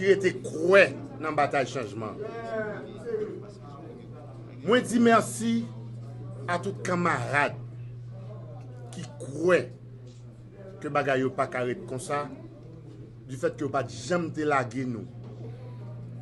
ki rete kwè nan batay chanjman mwen di mèsi a tout kanmarad ki kwè ke bagay yo pa ka ret konsa di fèt ke yo pat janm te lage nou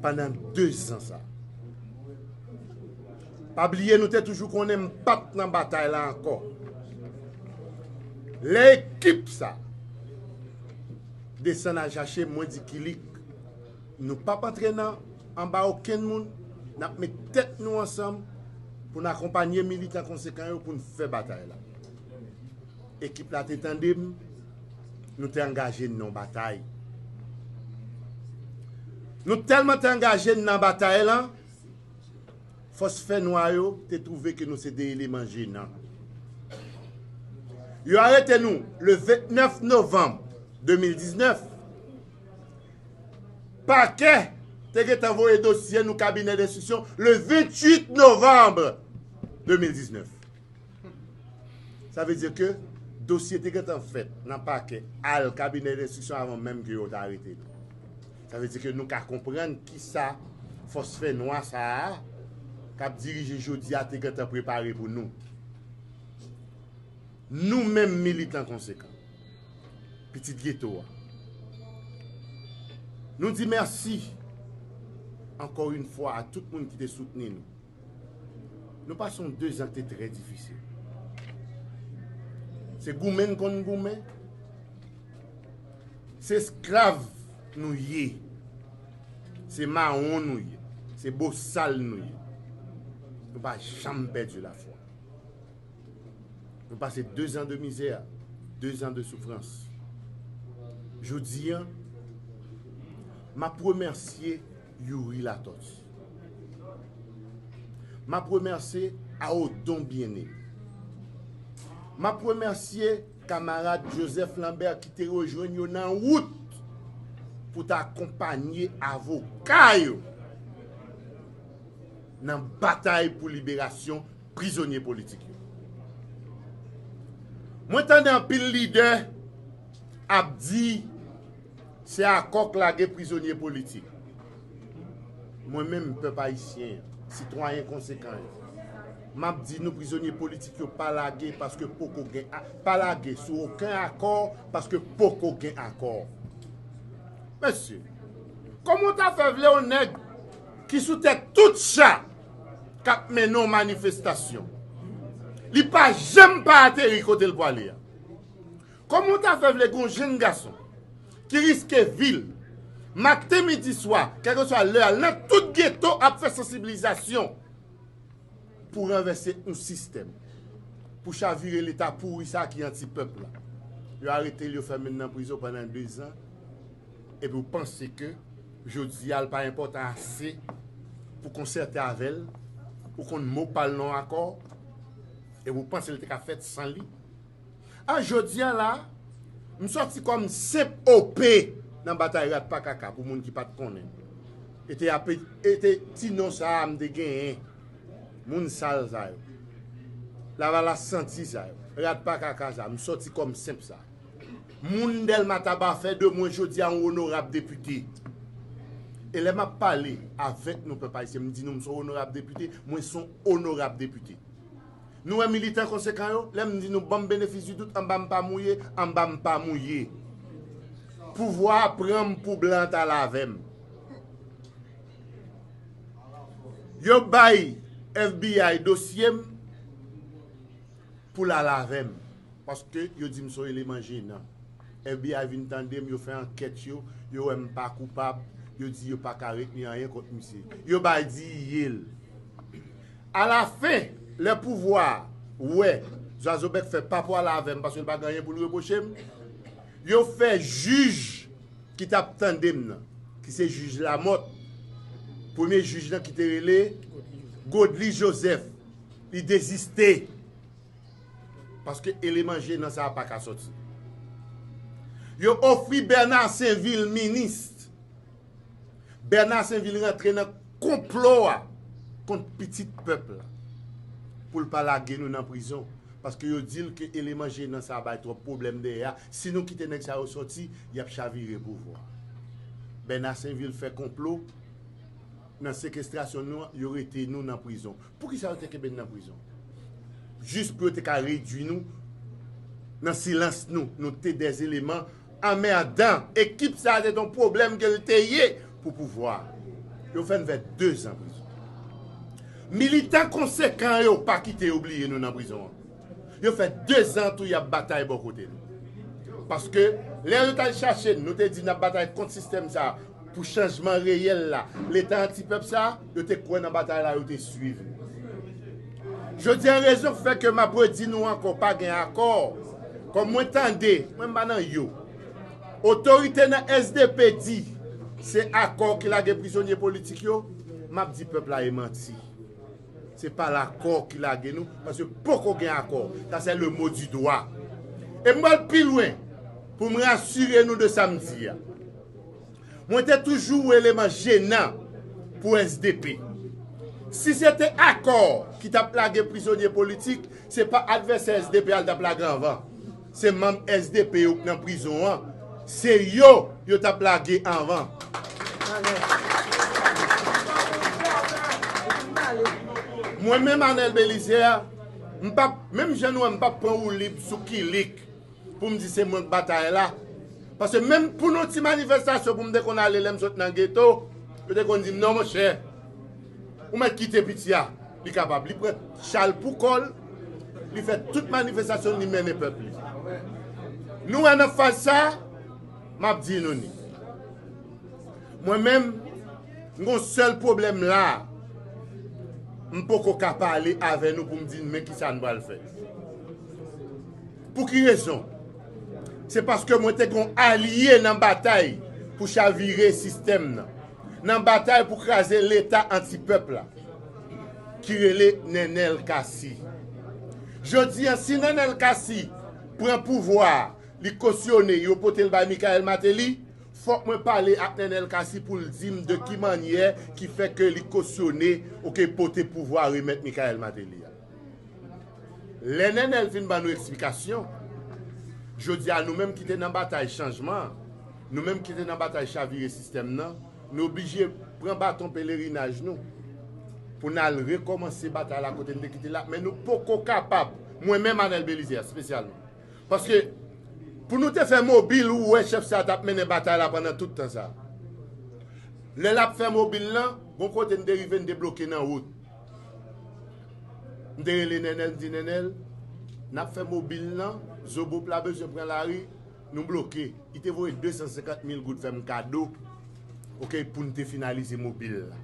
pandan 2 zan sa pa bliye nou te toujou konnen m pat nan batay la ankò lè ekip sa. Desann al chache mwen di kilik. Nou pap antre nan anba okenn moun, n ap met tèt nou ansanm pou n akonpanye militan konsekan yo pou n fè batay la. Ekip la te tande m, nou te angaje n nan yon batay. Nou tèlman te angaje n nan batay lan, Fòs fè nwa yo te twouve ke nou se de eleman jenan. Yo arete nou le 29 novanm 2019. Pakè te gentan voye dosye nou kabinè denstriksyon le 28 novanm 2019. Sa vle di ke dosye te gentan fèt nan pakè, al kabinè denstriksyon avan menm ke yo te arete nou. Sa vle di ke nou ka konprann kisa fòs fè nwa sa a k ap dirije jodi a te gentan prepare pou nou. Nou menm militan konsekan, pitit geto a, nou di mèsi ankò yon fwa a tout moun ki te soutni nou. Nou pase yon dezan ki te trè difisil. Se goumen n konn goumen. Se esklav nou ye. Se mawon nou ye. Se bosal nou ye. Nou pa janm pèdi lafwa. Nou pase dezan de mizè, dezan de soufrans. Jodi an, m ap remèsye Youri Latortue. M ap remèsye a o Don Bien-Aimé. M ap remèsye kamarad Joseph Lambert ki te rejwenn yo nan wout pou ta akonpanye avoka yo nan batay pou liberasyon prizonye politik yo. Mwen tande anpil lidè ap di. Se akò k lage prizonye politik. Mwen menm, pèp ayisyen an, sitwayen konsekan yo, m ap di nou prizonye politik yo pa lage paske poko gen, pa lage sou oken akò paske poko gen akò. Mesye, kòman w ta fè vle yon nèg ki sou tèt tout cha k ap mennen yon manifestasyon, li pa janm pa ateri kote l pwale a? Koman w ta fè vle gon jenn gason ki riske vi l maten midi swa kèlkeswa lè a l nan tout geto ap fè sansibilizasyon pou ranvèse yon sistèm pou chavire leta pouri sa ki anti pèp la yo arete l yo fèmen l nan prizon pandan 2 zan epi w panse ke jodi a l pa enpòtan ase pou konsète avè l ou konn mo pa l nan yon akò epi w panse l te ka fèt san li. A jodi a la, m sòti kòm senp OP nan batay rat pa kaka pou moun ki pat konnen. E te ape e te ti non sa a m te genyen. Moun sal sa yo. Lavalas santi sa yo. Rat pa kaka sa a. M sòti kòm senp sa. Moun Dèlma Taba fè de mwen jodi a yon onorab depite. E lè m ap pale avèk nou pèp ayisyen m di nou m son onorab depite, mwen son onorab depite. Nou wè militan konsekan yo, lè m di nou banm benefis di dout anba m pa mouye, anba m pa mouye. Pouvwa a pran m pou blan t al avè m. Yo bay FBI dosye m pou l al avè m paske yo di m son eleman jenan. FBI vin tande m, yo fè ankèt yo, yo wè m pa koupab, yo di yo pa ka retni anyen kont misye. Yo bay di ye l. A la fen, lè pouvwa a wè Zwazobèk fè pa pwale avè m paske l pa gen anyen pou l repwoche m, yo fè jij ki t ap tande m nan, ki se jij Lamòt, premye jij lan ki te rele Godly Joseph, li deziste paske eleman jenan sa a pa ka soti. Yo ofri Bèna Senvil minis. Bernard Sainvil rantre nan konplo a kont pitit pèp la pou l pa lage nou nan prizon paske yo di l ke eleman jenan sa bay twòp pwoblèm dèyè a si nou kite nèg sa yo sòti y ap chavire pouvwa a Bernard Sainvil fè konplo nan sekestrasyon nou an yo rete nou nan prizon poukisa yo te kenbe n nan prizon jis pou yo te ka redwi nou nan silans nou nou te dè eleman Anmerdan ekip sa se ton pwoblem ke l te ye pou pouvwa a. Yo fè n fè 2 zan prizon. Militan konsekan yo pa kite yo bliye nou nan prizon an. Yo fè 2 zan tou y ap batay bò kote nou. Paske lè yo t al chache n nou te di n ap batay kont sistèm sa a. Pou chanjman reyèl la, Leta anti pèp sa, yo te kwè nan batay la, yo te swiv li. Jodi a rezon k fè ke m ap redi nou ankò pa gen akò, kòm mwen tande, mwen m pa nan yo, otorite nan sdp di se akò ki lage prizonye politik yo, m ap di pèp la e manti. Se pa lakò ki lage nou, paske poko gen akò. Sa se le mo di dwa. E m pral pi lwen pou m rasire nou de sa m di a. Mwen te toujou yon eleman jenan pou sdp. Si se te akò ki t ap lage prizonye politik, se pa advèsè sdp a l t ap lage anvan. Se manm sdp yo k nan prizon an, se yo yo t ap lage anvan. Mwen menm Anel Belizaire, m p ap, menm jan nou wè m p ap pran woulib sou kilik. pou m di se mwen k batay la. Paske menm pou nou ti manifestasyon pou m te konn ale lè m sot nan geto, yo te konn di m non monchè, ou mèt kite piti a, li kapab, li pran chal pou kò l, li fè tout manifestasyon l, li mennen pèp li. Nou wè nan faz sa, m ap di nou ni. Mwen menm, m gon sèl pwoblèm la a, m poko ka pale avè nou pou m di n men kisa n pral fè. Pou ki rezon? Se paske mwen te gon alye nan batay pou chavire sistèm nan, nan batay pou kraze leta anti pèp la, ki rele Nenel Cassy. Jodi an si Nenel Cassy pran pouvwa a, li kosyone, yo pote l bay Michael Martelly, fòk mwen pale ak Nenel Cassy pou l di m de ki mannyè ki fè ke li kosyone ou ke pote pouvwa remèt Michael Martelly a. Lè Nènèl fin ban nou eksplikasyon, jodi a nou menm ki te nan batay chanjman an, nou menm ki te nan batay chavire sistèm nan, nou oblije pran baton pelerinaj nou pou n al rekòmanse batay la kote n te kite l la, men nou poko kapab, mwen menm Anèl Belize espesyalman. Paske, pou nou te fè mobil ou wè chèf sa a t ap mennen batay la pandan tout tan sa a. Lè l ap fè mobil lan, gon kote n te rive n te bloke nan wout. M te rele Nènèl, m di Nènèl, n ap fè mobil nan, Zobop la bezwen pran lari, nou bloke. Li te voye 250 mil goud fè m kado pou n te finalize mobil la.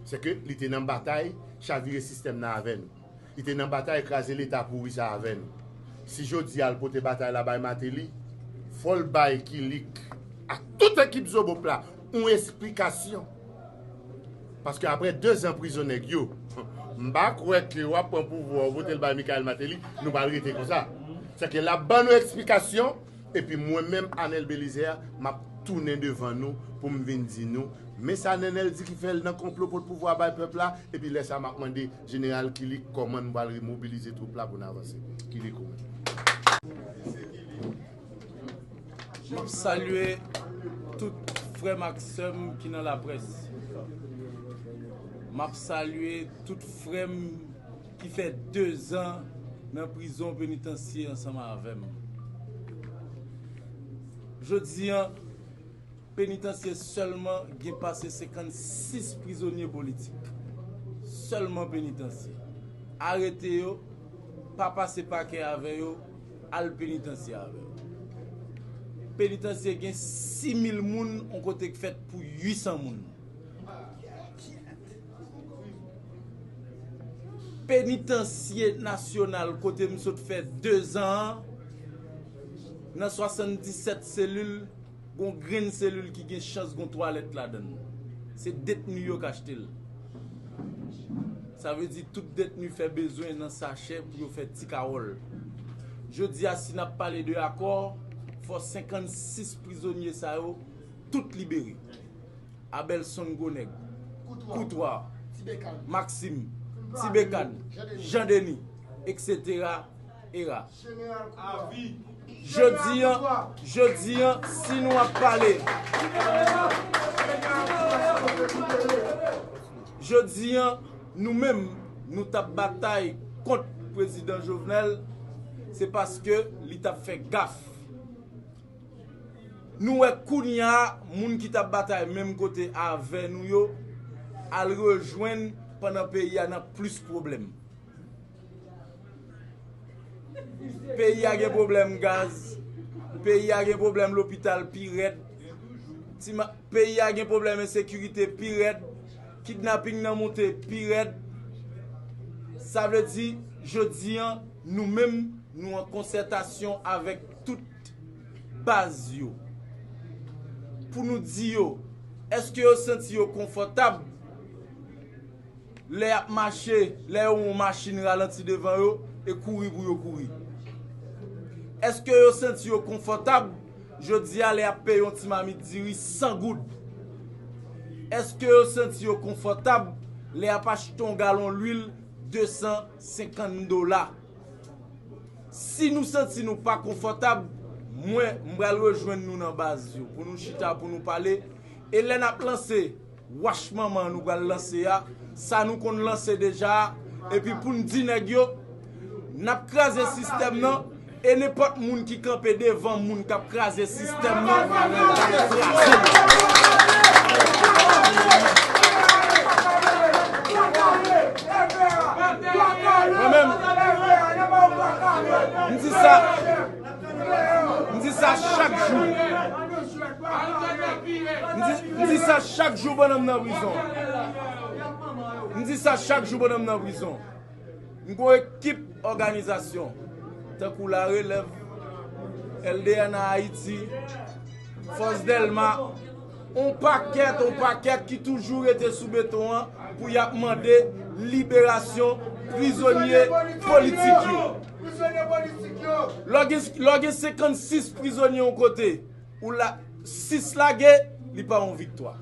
Sèke li te nan batay chavire sistèm nan avè nou. Li te nan batay kraze Leta pouri sa avè nou. Si jodi a l pote batay la bay Mateli, fò l bay kilik ak tout ekip Zobop la. yon esplikasyon paske aprè 2 zan prizon nèg yo m pa kwè ke wap pran pouvwa w votel bay Michaëlle Martelly nou pral rete konsa se ke lap ban nou esplikasyon epi mwen menm Anel Belizaire map tounen devan nou poum vin di nou men sa Nenel di ki fè l nan konplo pot pouvwa bay pèp la epi lè sa map mande Jeneral Killick kòman nou pral remobilize twoup la pou n avanse Killick ou menm. Map salye tout frèm ak sèm ki nan la près. Map salye tout frèm ki fè 2 zan nan prizon penitansye ansanm avèm. Jodi an penitansye sèlman gen pase 56 prizonye politik. Sèlman penitansye. Arete yo, pa pase pakè avè yo. Al penitansye avè yo. Penitansye gen 6000 moun on kote k fèt pou 800 moun. Penitansye nasyonal kote m sot fè 2 zan an nan 77 selil. Gon grenn selil ki gen chans gon twalèt ladann. Se detni yo k achte l. Sa vle di tout detni fè bezwen nan sachè pou yo fè ti kawòl. Jodi a si n ap pale de akò, fò 56 prizonye sa yo tout libere. Abèlson gwo nèg, Koutwa, Maksim, Ti Bekan, Jan Deni, eksetera era. Avi, Jodi an, jodi an, si nou ap pale. Jodi an, nou menm, nou t ap batay kont Prezidan Jovenel, se paske li t ap fè gaf. Nou wè kounya moun ki t ap batay menm kote avè nou yo al rejwenn pandan peyi a nan plis pwoblèm. Peyi a gen pwoblèm gaz, peyi a gen pwoblèm lopital pi rèd, peyi a gen pwoblèm ensekirite pi rèd, kidnaping nan moute pi rèd. Sa vle di, jodi an, nou menm nou an konsètasyon avèk tout baz yo. Pou nou di yo, èske yo santi yo konfòtab? Lè y ap mache, lè yo wè yon machin ralanti devan yo, e kouri pou yo kouri. Èske yo santi yo konfòtab jodi a lè y ap peye yon ti mamit diri 100 goud? Èske yo santi yo konfòtab lè y ap achte yon galon lwil 250 dola? Si nou santi nou pa konfòtab, mwen, m pral rejwenn nou nan baz yo pou nou chita, pou nou pale, e lè n ap lanse. Wach manman nou pral lanse a, sa nou konn lanse deja a, epi pou n di nèg yo, n ap kraze sistèm nan, e nenpòt moun ki kanpe devan moun k ap kraze sistèm nan, n ap kraze l. Mwen menm, m di sa. M di sa chak jou. M di sa chak jou pandan m nan prizon. M di sa chak jou pandan m nan prizon. M gon ekip òganizasyon tankou La Relèv, LDN Haiti, Fòs Dèlma. On pakèt, on pakèt ki toujou rete sou beton an pou y ap mande liberasyon prizonye politik yo. Lè w gen 56 prizonye yon kote, ou la, 6 lage, li pa yon viktwa.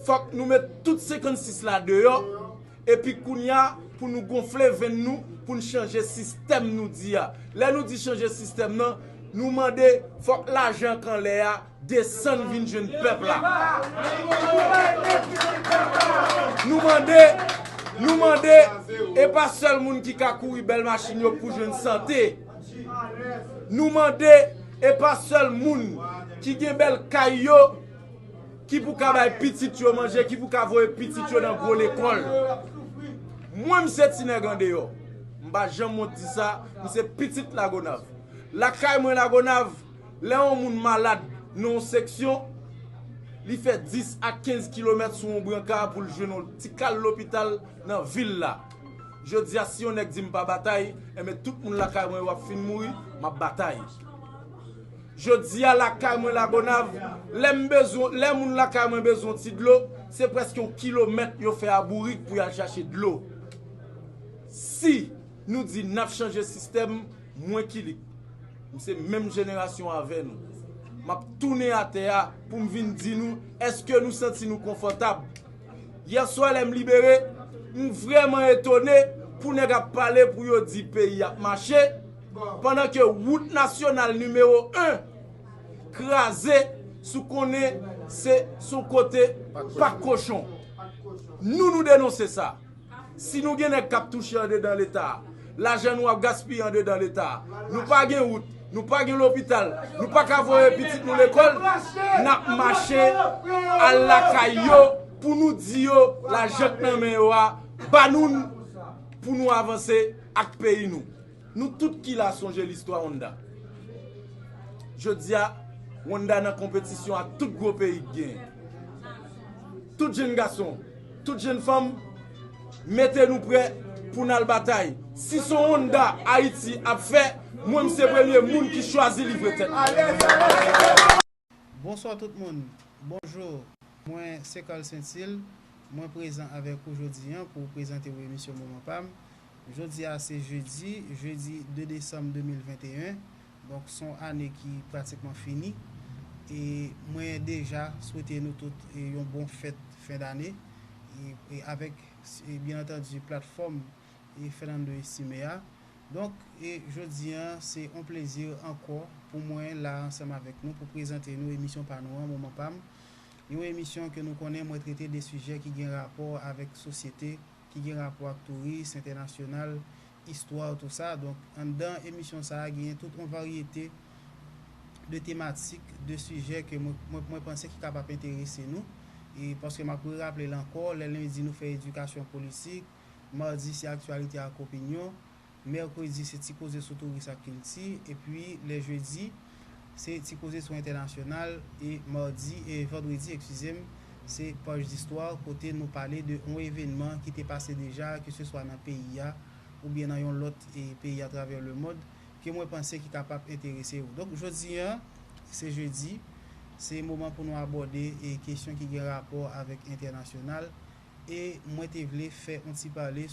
Fòk nou met tout 56 la deyò. Epi kounya pou nou gonfle venn nou pou n chanje sistèm nou di a. Lè nou di chanje sistèm nan, nou mande fòk lajan ak anlè a desann vin jwenn pèp la. Nou mande, nou mande, e pa sèl moun ki ka kouri bèl machin yo pou jwenn sante. Nou mande, e pa sèl moun ki gen bèl kay yo Ki pou ka bay pitit yo manje, ki pou ka voye pitit yo nan gwo lekòl. Mwen m se ti nèg andeyò. M pa janm wont di sa, m se pitit Lagonav. Lakay mwen Lagonav, lè yon moun malad nan yon seksyon, li fè 10 a 15 kilomèt sou yon branka pou l jwenn yon ti kal lopital nan vil la. Jodi a si yon nèg di m pa batay, enben tout moun lakay mwen yo ap fin mouri, m ap batay. Jodia lakay mwen Lagonav, lè m bezwen, lè moun lakay mwen bezwen yon ti dlo, se prèske yon kilomèt yo fè a bourik pou y al chache dlo. Si nou di n ap chanje sistèm, mwen Kilik, m se menm jenerasyon avè nou, m ap tounen atè a pou m vin di nou èske nou santi nou konfòtab. Yè swa lè m libere, m vrèman etone pou nèg ap pale pou yo di peyi ap mache, Pandan ke wout nasyonal nimewo 1 kraze sou konnen se son kote pak kochon. Nou nou denonse sa. Si nou gen nèg kap touche andedan leta, lajan nou ap gaspiye andedan leta, nou pa gen wout, nou pa gen lopital, nou pa ka voye pitit nou lekòl, nap mache al lakay yo pou nou di yo lajan k nan men yo a, ba nou l pou nou avanse ak peyi nou. Nou tout ki la sonje listwa Honda. Jodia Honda nan konpetisyon ak tout gwo peyi ki genyen. Tout jenn gason, tout jenn fanm, mete nou prè pou n al batay. Si son Honda Ayiti ap fè, mwen m se premye moun ki chwazi livre tèt mwen. Bonsoir tout moun Bonjour mwen se Carl Saintil mwen prezan avèk ou jodi an pou prezante ou emisyon moman pam jodi a se jedi jeudi 2 desanm 2021 donk son ane ki pratikman fini e mwen deja swete nou tout yon bon fèt fen dane avèk byen antandi platfòm Fernando Estime a. Donk, jodi an, se on plezi ankò pou mwen la ansanm avèk nou pou prezante nou emisyon pa nou an Moman Pam, yon emisyon ke nou konnen mwen trete de sijè ki gen rapò avèk sosyete, ki gen rapò ak touris entènasyonal, istwa ou tou sa. Donk, anndan emisyon sa a genyen tout on varyete de tematik, de sijè ke mwen mwen panse ki kapap enterese nou. Paske m ap re-raple l ankò, lè lendi nou fè edikasyon politik, Madi se aktyalite ak opinyon, mèkredi se ti koze sou touris ak kilti, epi lè jedi se ti koze sou entènasyonal e madi e vandredi ekskize m se paj distwa kote nou pale de on evenman ki te pase deja keseswa nan peyi a oubyen nan yon lòt peyi atravè lemond. ke mwen panse ki kapab enterese ou. Donk jodi an, se jedi, se moman pou nou abòde e kesyon ki gen rapò avèk entènasyonal e mwen te vle fè on ti pale.